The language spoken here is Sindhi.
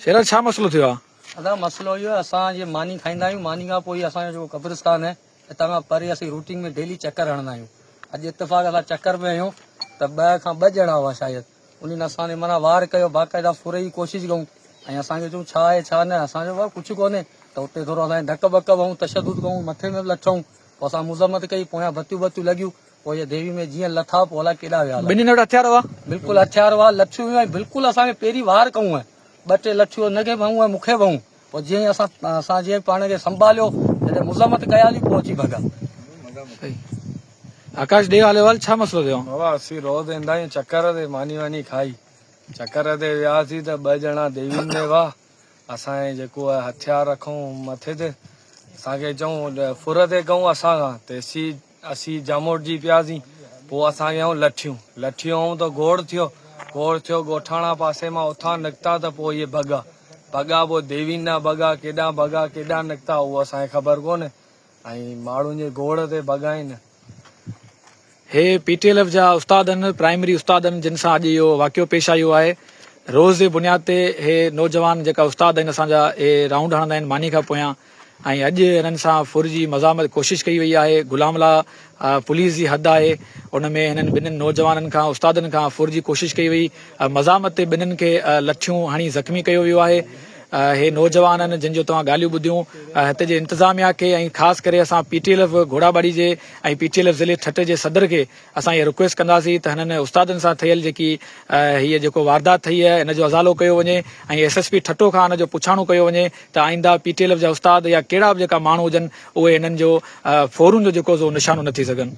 شيرا ڇا مسئلو ٿيو آ؟ ادا مسئلو اهو آهي اسان جي ماني کائيندا آهيون ماني کان پوء اسان جو جيڪو قبرستان آهي اتان کان پري اسين روٽين ۾ ڊيلي چڪر هڻندا آهيون اڄ اتفاق سان چڪر ۾ آهيون ته ٻه کان ٻه ڄڻا هئا شايد انهن اسان تي معنيٰ وار ڪيو باقاعده ڦرهي جي ڪوشش ڪئون ۽ اسان کي چون ڇا آهي ڇا نه اسان جو ڪجهه ڪونهي ته اتي ٿورو اسان ڌڪ ٻڪ به هئون تشدد ڪئون مٿي ۾ به لٿئون پوء اسان مذمت ڪئي پويان بتيون بتيون لڳيون پوء جي ديوي ۾ جيئن لٿا پوء الائي ڪيڏا ويا. ٻنهين وٽ هٿيار هئا. بلڪل هٿيار هئا. لٺيون هيون ۽ بلڪل اسان کي پيري وار ڪئون ۽ ٻه ٽي لٺيون هن کي به هيون ۽ مون کي به هيون. پوء جيئن اسان اسان جيئن پاڻ کي سنڀاليو جڏهن مذمت ڪياسين پوء اچي ڀڳا. آڪاش ڏي حالحوال ڇا مسئلو ٿيو. بابا اسين روز ايندا آهيون چڪر تي ماني واني کائي چڪر تي وياسين ته ٻه ڄڻا ديوين ۾ هئا اسان هي جيڪو هٿيار رکون مٿي تي اسان کي چئون ڦر تي ڪئون اسان کان تيسين اسين جاموٽجي پياسين. پوء اسان ويائون لٺيون. لٺيون هئون ته گوڙ ٿيو. گوڙ ٿيو ڳوٺاڻا پاسي مان اتان نڪتا ته پوء اهي ڀڳا. ڀڳا پوء ديوين ڏانهن ڀڳا. ڪيڏانهن ڀڳا ڪيڏانهن نڪتا اهو اسان کي خبر ڪونهي. ۽ ماڙهن جي گوڙ تي ڀڳائين. هي پي ٽي ايل ايف جا استادن، پرائمري استادن جن سان اڄ اهو واقعو پيش آيو آهي. روز جي بنياد تي هي نوجوان جيڪا استاد آهن اسان جا اهي رائونڊ هڻندا آهن ماني کان پويان. ۽ اڄ هنن سان ڦر جي مزاحمت ڪوشش ڪئي وئي آهي غلام لا پوليس جي حد آهي ان ۾ هنن ٻنهن نوجوانن کان استادن کان ڦر جي ڪوشش ڪئي وئي مزاحمت تي ٻنهن کي لٺيون هڻي زخمي ڪيو ويو آهي هي نوجوانن جن جو توهان ڳالهيون ٻڌيون هتي جي انتظاميا کي ۽ خاص ڪري اسان P T L F Ghora Bari جي ۽ پي ٽي ايل ايف ضلعي ٺٽي جي صدر کي اسان اها رڪويسٽ ڪنداسين ته هنن استادن سان ٿيل جيڪي هيء جيڪو واردات ٿئي آهي ان جو ازالو ڪيو وڃي ۽ ايس ايس پي ٺٽو کان ان جو پڇاڻو ڪيو وڃي ته آئنده پي ٽي ايل ايف جا استاد يا ڪهڙا به جيڪا ماڻهو هجن اهي هنن جو ڦورن جو جيڪو سو نشانو نه ٿي سگهن.